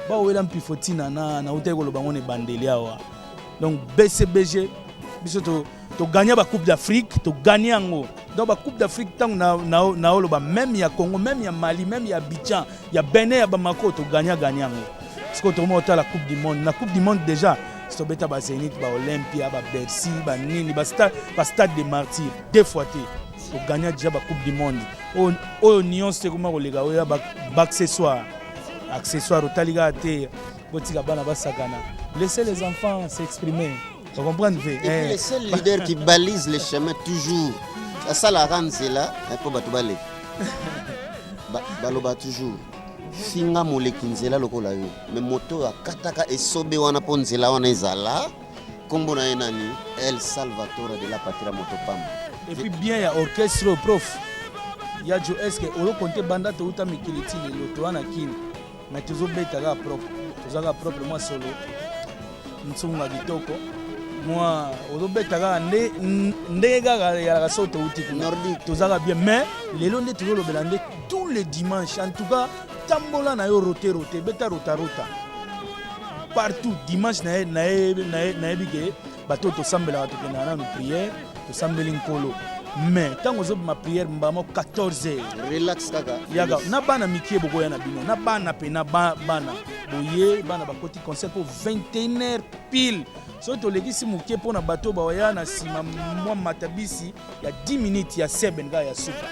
bawela mpifo ntina na nautaki koloba yango na ebandeli awa donc bcbg biso togagna to bacoupe d'afrique togagna yango donc bacoupe d'afrique ntango naoloba na, na meme ya congo meme ya mali meme ya abidjan ya benin ya bamako togagna gagna yango sikoyo tokomona otala coupe du monde na coupe du monde déjà tobeta bazenit baolympia babercy banini bastade de martyr deux fois te To gagna deja ba coupe du monde oyo oyo nyonso ekoma koleka oyo ya ba accessoire accessoire otali kaka te botika bana basakana laissez les enfants s'exprimer vous comprenez Et puis eh. le seul leader qui balise le chemin toujours asalaka nzela mpo bato baleka ba, baloba toujours finga moleki nzela lokola yo me moto oyo akataka esobe wana mpo nzela wana ezala Kombo na ye nani? El Salvatore de la Patria Motopamba. Et puis bien ya orchestre au prof. Ya Joe est-ce que oyo compte banda to uta mikili ti lelo to wana kin. Mais tozo beta ga propre. Tozo ga propre moi solo. Nsunga kitoko. Moi ozo beta ga nde nde ga ya la soto uti. Nordique toza ga bien mais lelo nde tozo lobela nde tous les dimanches en tout cas tambola na yo rote rote beta rotarota partout dimanche nayebi ke bato oyo tosambelaka tokendaka nanu priere tosambeli nkolo mais ntango ozobima priere mbamo 14 heure relax kaka yaka na bana mikie bokoya na bino na bana mpe na bana boye bana bakoti concert mpo 21 heure pile soki tolekisi moke mpo na bato bawaya na nsima mwa matabisi ya 10 minutes ya seben kaka ya suka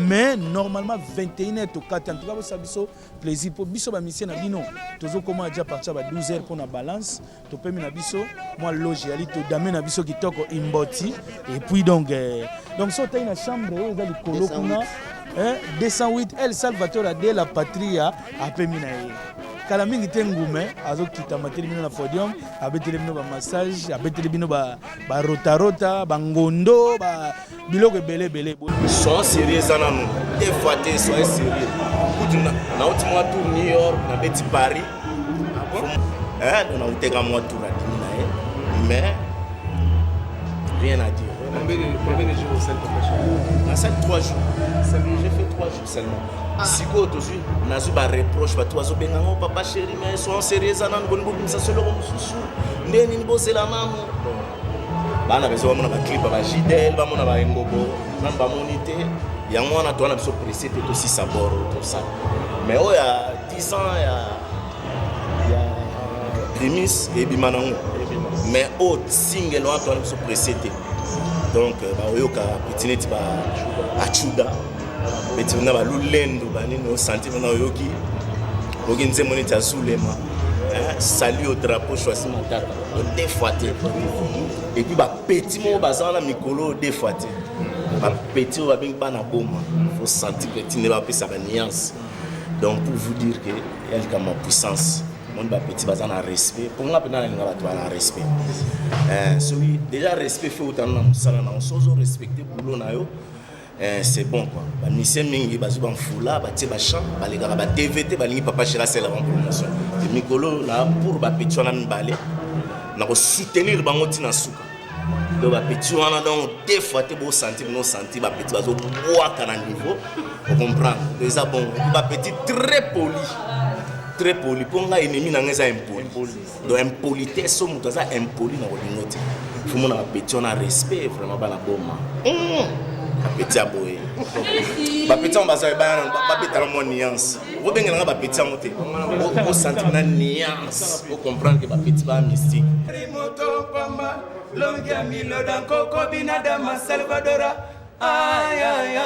mais normalement 21 heures tokati antuka bosa biso plaisir mpo biso bamisie na bino tozokoma aja partir ba 12 heures mpo na balance topemi na biso mwa loge yali todame na biso kitoko imboti et puis donc eh, donc so otai na chambre oyo eza likolo kuna eh, 208 el salvator ade la patria apemi na ye kala mingi te ngume azokita matelemi bino na podium abeteli bino bamassage abeteli bino ba ba rota rota ba ngondo ba biloko ebele ebele soyons sérieux eza nanu efa te soyez sérieux kutu nauti mwa tour new york nabeti paris ah eh, nauteka mwa tour adimi na ye mais rien à dire nasali 3 jours j'ai fait 3 jours seulement ah. sikoyo tozwi nazwi bareproche bato bazobenga ngo papa chéri mais soyons sérieux eza nanu boni bobimisa so eloko mosusu nde nini bozela nanu bana bezo bamona baclip ya bagidel bamona baengobo nanu bamoni te yango wana towana biso presse mpe tosisa boro tosala mais oyo ya 10 ans ya ya primis ebima nango mais oyo singele wana towana biso presse te donc euh, baoyoka pitineti ba achuda beti na balulendo banini osanti mpona oyoki oyoki nzembo neti ya zulema sali yo drapeau choisi matata odefwa te epuis bapeti moko baza wana mikolo odefwa te bapeti oyo babengi bana boma osanti peti nde bapesa baniance donc pour vous dire que ya likambo ya puissance omoni bapeti baza na respect mpo nga mpenza nalinga bato bana respect eh, soki déjà respect fe otana na mosala na yo sozo respecte boulot na yo Eh, c'est bon quoi. Ba musiciens mingi bazo ba mfula, ba tie ba chant, ba lekaka ba TV te, ba lingi papa Shira sela en promotion. Et mikolo na pour ba petit wana mibale. Na ko soutenir bango tina suka. Donc ba petit wana donc deux fois te bo senti bino senti ba petit bazo bwaka na niveau. Vous comprenez? Donc ça bon, ba petit très poli. Très poli. Pour nga ennemi na nga eza impoli. donc impolitesse oyo moto aza impoli na kolingo te fomona bapeti wana respect vraiment bana boma hmm. bapeti ya boye bapeti yango baza babetala mwa nuance obengela nga bapeti yango te osentir na nuance ocomprendre ke bapeti ba mystique moto pamba longi ya miloda nkoko binadama salvadora ayaya